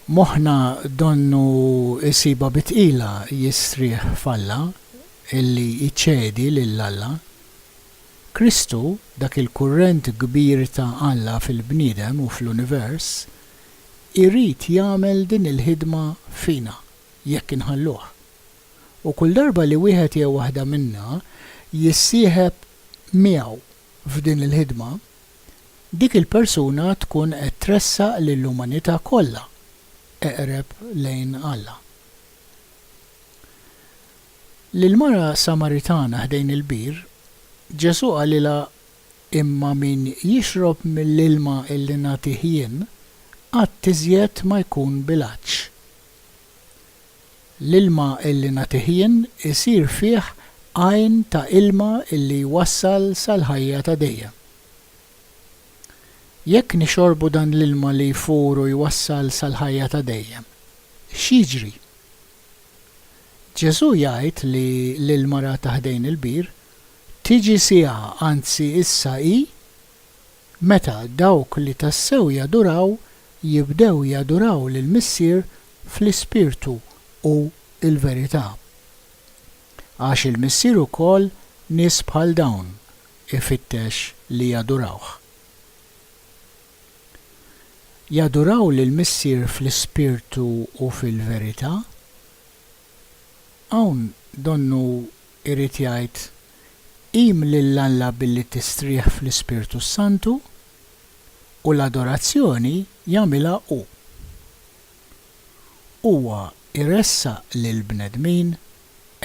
Moħħna donnu jsibha bi tqila jistrieħ f'Alla, illi jċedi lil Alla. Kristu, dak il-kurrent kbir ta' Alla fil-bniedem u fl-univers, irid jagħmel din il-ħidma fina jekk inħalluh. U kull darba li wieħed jew waħda minna jissieħeb miegħu f'din il-ħidma, dik il-persuna tkun qed tressaq lill-umanità kollha eqreb lejn Alla. Lill-mara Samaritana ħdejn il-bir, Ġesù qalilha imma min jixrob mill-ilma li nagħtih jien, qatt iżjed ma jkun bil-għatx. L-ilma li nagħtih jien isir fih għajn ta' ilma li jwassal sal-ħajja ta' dejjem. Jekk nixorbu dan l-ilma li jfur u jwassal sal-ħajja ta' dejjem, x'jiġri? Ġesù jgħid li l-ilma ra ta' ħdejn il-bir Tiġi siegħa, anzi issa hi, meta dawk li tassew jaduraw jibdew jaduraw lill-Missier fl-ispirtu u l-verità. Għax il-Missier ukoll nies bħal dawn ifittex li jadurawh. Jaduraw lill-Missier fl-ispirtu u fil-verità. Hawn donnu jrid jgħid, Qim lil Alla billi tistrieħ fl-Ispirtu s-Santu, u l-adorazzjoni jagħmilha hu. Huwa jressaq lill-bnedmin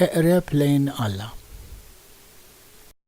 eqreb lejn Alla.